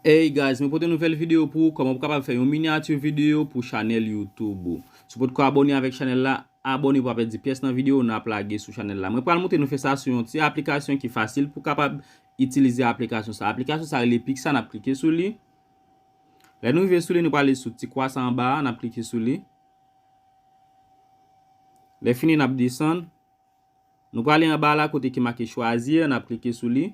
Hey guys, mwen pote nouvel video pou ou koman pou kapab fè yon miniature video pou chanel youtube ou. Si potko abone avek chanel la, abone pou pa pedi pyes nan video nap lage sou chanel la. Mwen pral moutre nou fè sa sou yon ti aplikasyon ki fasil pou kapab itilize aplikasyon sa. Aplikasyon sa rele Pixa nap klike sou li. Lè nou rive sou li nou pral ale sou ti kwa sa anba a nap klike sou li. Lè fini nap desann. Nou pral ale anba la kote ki make chwazir nap klike sou li.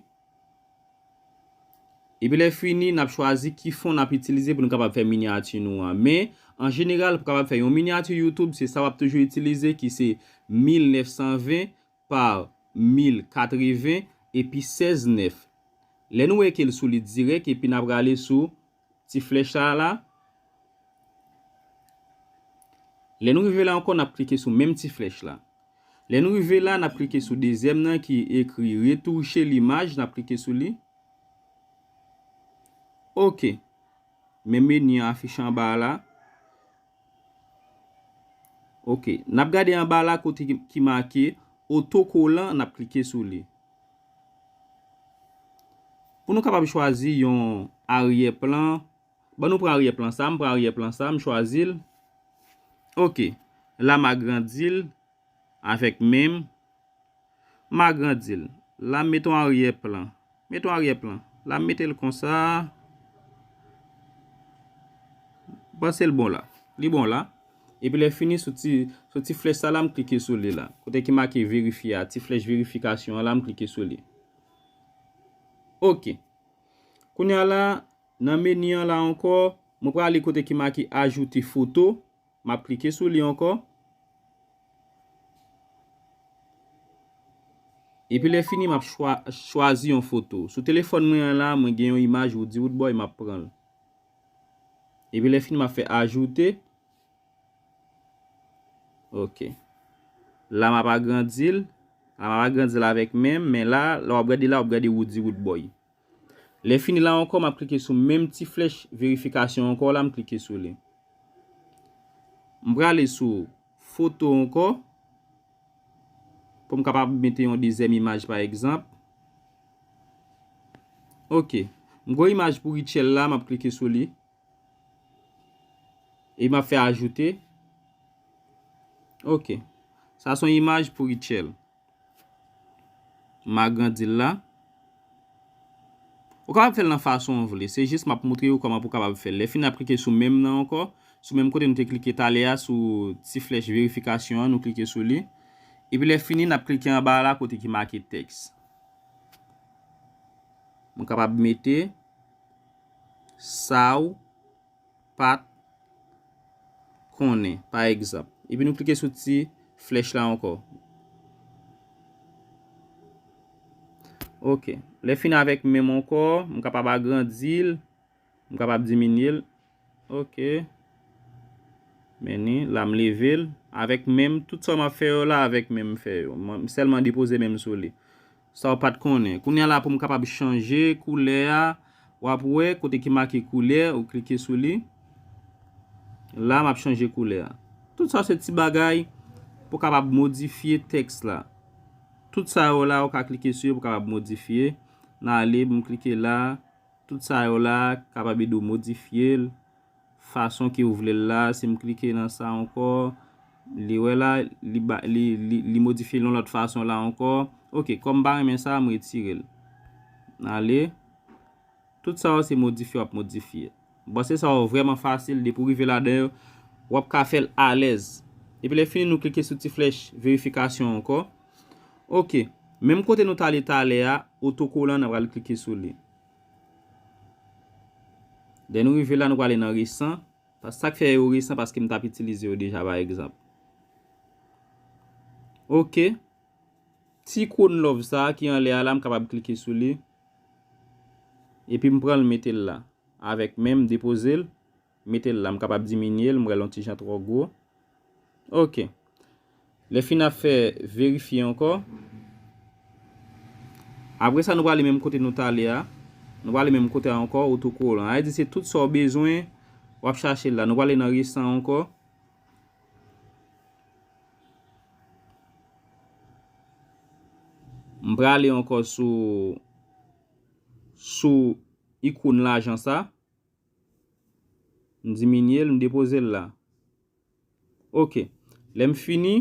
Epi lè fini, n ap chwazi ki fon n ap itilize pou nou kapab fè minyati nou an. Men, an jeneral, pou kapab fè yon minyati YouTube, se sa w ap toujou itilize ki se 1920 pa 1080 epi 16 9. Lè nou wè ke l solid dirèk epi n ap rale sou. ti flèch sa a la. Lè nou rive la ankò n ap klike sou menm ti flèch la. Lè nou rive la, n ap klike sou dezyèm nan ki ekri retouche limaj, n ap klike sou li. Ok. Men meni an afiche anba a la. Ok, n ap gade anba la kote ki make otokolan, n ap klike sou li. Pou nou kapab chwazi yon aryè plan, ban nou pran aryè plan sa, m pran aryè plan sa, m chwazi l. Ok, la m agrandi l. Avèk men m, m agrandi l. La m met on aryè plan. Met on aryè plan. La m mete l konsa. M panse l bon la. Li bon la. Epi lè fini sou ti, sou ti flèch sa la m klike sou li la. Kote ki make verifye a, ti flèch verifikasyon an la m klike sou li. Ok. Kounya la, nan meni an la ankò, mwen prale kote ki make ajoute foto. M ap klike sou li ankò. Epi lè fini m ap chwazi yon foto. Sou telefòn mwen an la, mwen gen yon imaj Woody Woodboy m ap pran l. Epi lè fini m ap fè ajoute. Ok. La m ap agrandi l. La m ap agrandi l avèk men m. Men la, lè w ap gade la, w ap gade Woody Woodboy. Lè fini la ankò map klike sou menm ti flèch verifikasyon ankò la m klike sou li. M prale sou foto ankò pou m kapab mete yon dezyèm imaj pa egzanp. Ok. M gen yon imaj pou Rutshelle la map klike sou li. E map fè ajoute. Ok. Sa son imaj pou Rutshelle. M agrandi l la. Ou kapab fè l nan fason ou vle. Se jis m ap montre ou kòman pou w kapab fè l. Lè fini ap klike sou menm nan ankò. Sou menm kote nou te klike talè a sou ti flèch verifikasyon an nou klike sou li. Epi lè fini n ap klike anba a la kote ki make tèks. M kapab mete sa ou. pa t konnen, pa egzanp. Epi nou klike sou ti flèch la ankò. Ok, lè fin avèk menm ankò, m kapab agrandi l, m kapab diminye l. Ok, meni, la m leve l, avèk menm, tout sa m ap fè yo la avèk menm m fè yo. M sèlman depoze menm sou li. Sa w pat konnen. Kounye a la pou m kapab chanje koulè a w ap wè kote ki make koulè ou klike sou li la m ap chanje koulè a tout sa se ti bagay pou kapab modifye tèks la tout sa yo la ou ka klike sou yo pou kapab modifye nan ale m klike la tout sa yo la kapab ede w modifye l fason ke ou vle l la, si m klike nan sa ankò, li wè la, li ba, li, li, li modifye l yon lòt fason la ankò, ok, kòm m pa renmen sa, m retire l, m ale, tout sa yo se modifye w ap modifye, m panse sa yo vrèman fasil, depi w rive ladan yo, w ap ka fè l alèz, epi lè fini nou klike sou ti flèch verifikasyon ankò, ok, menm kote nou t ale talè a, otokolan nan pral klike sou li. Lè nou rive la nou prale nan resan, sak fè yo resan paske m tap itilize yo deja pa egzanp. Ok, ti ikon love sa ki anlè a la m kapab klike sou li epi m pranl metel la avèk menm depozel Mete l la. M kapab diminye l, m wè l on ti jan twò gwo. Ok. Lè fin ap fè verifye ankò. Apre sa nou prale menm kote nou t ale a. Nou prale menm kote a ankò, otokolan. Sa vle di se tout sa ou bezwen, w ap chache la. Nou prale nan resan ankò. M prale ankò sou sou ikoun lajan sa. M diminye l, m depoze l la. Ok. Lè m fini,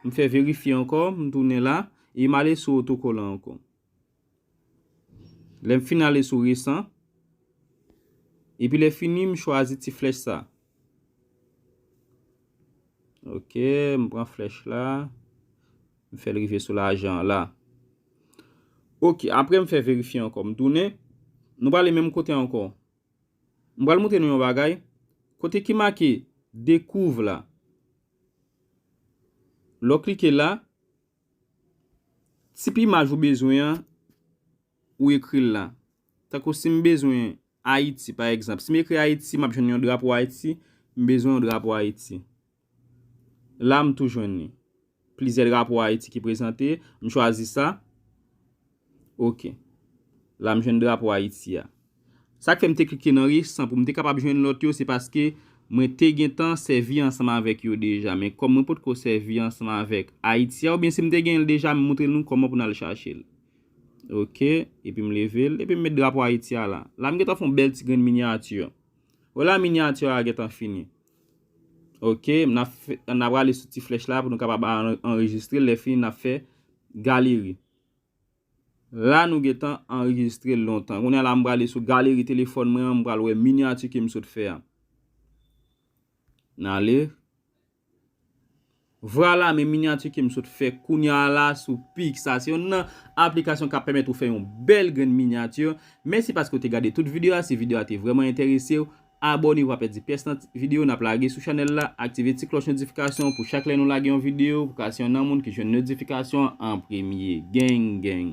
m fè verifye ankò, m tounen la, e m ale sou otokolan ankò. Lè m fin ale sou resan, epi lè fini m chwazi ti flèch sa a. Ok, m pran flèch la. M fè l rive sou lajan an la. Ok, apre m fè verifye ankò. M tounen. Nou prale menm kote ankò. M pral montre nou yon bagay. Kote ki make dekouv la. Lè w klike la, tip imaj ou bezwen an, ou ekri l la. Tankou si m bezwen Ayiti, pa egzanp, si m ekri Ayiti, m ap jwenn yon drapo Ayiti, m bezwen yon drapo Ayiti. La m tou jwenn li. Plizyè drapo Ayiti ki prezante, m chwazi sa. Ok. La m jwenn drapo Ayiti a. Sa k fè m te klike nan resan pou m te kapab jwenn lòt yo se paske mwen te gentan sèvi ansanm avèk yo deja. Men kòm mwen potko sèvi ansanm avèk Ayiti a oubyen si m te gen l deja m moutre nou kòman pou n al chache l. Ok, epi m leve l, epi m met drapo Ayiti a la. La m gentan fè yon bèl ti grenn minyati. Wè la minyati a gentan fini. Ok, n ap fè, n ap rale sou ti flèch la pou nou kapab anrejistre l, lè fini n ap fè galeri. La nou gentan anrejistre l lontan. Kounye a la m prale sou galeri telefòn mwen an, m pral wè minyati ke m sot fè a. N ale, Vrala men minyati kem sot fè kounya la sou pixar se yonn nan aplikasyon kap pèmèt ou fè yon bèl grenn minyati mèsi paske ou te gade tout video a si video a te vrèman enteresew abòne ou pa pèdi pyès nan video nap lage sou chanèl la aktive ti klòch notifikasyon pou chak lè nou lage yon video pou ka se yonn nan moun ki jwenn notifikasyon an premye geng geng.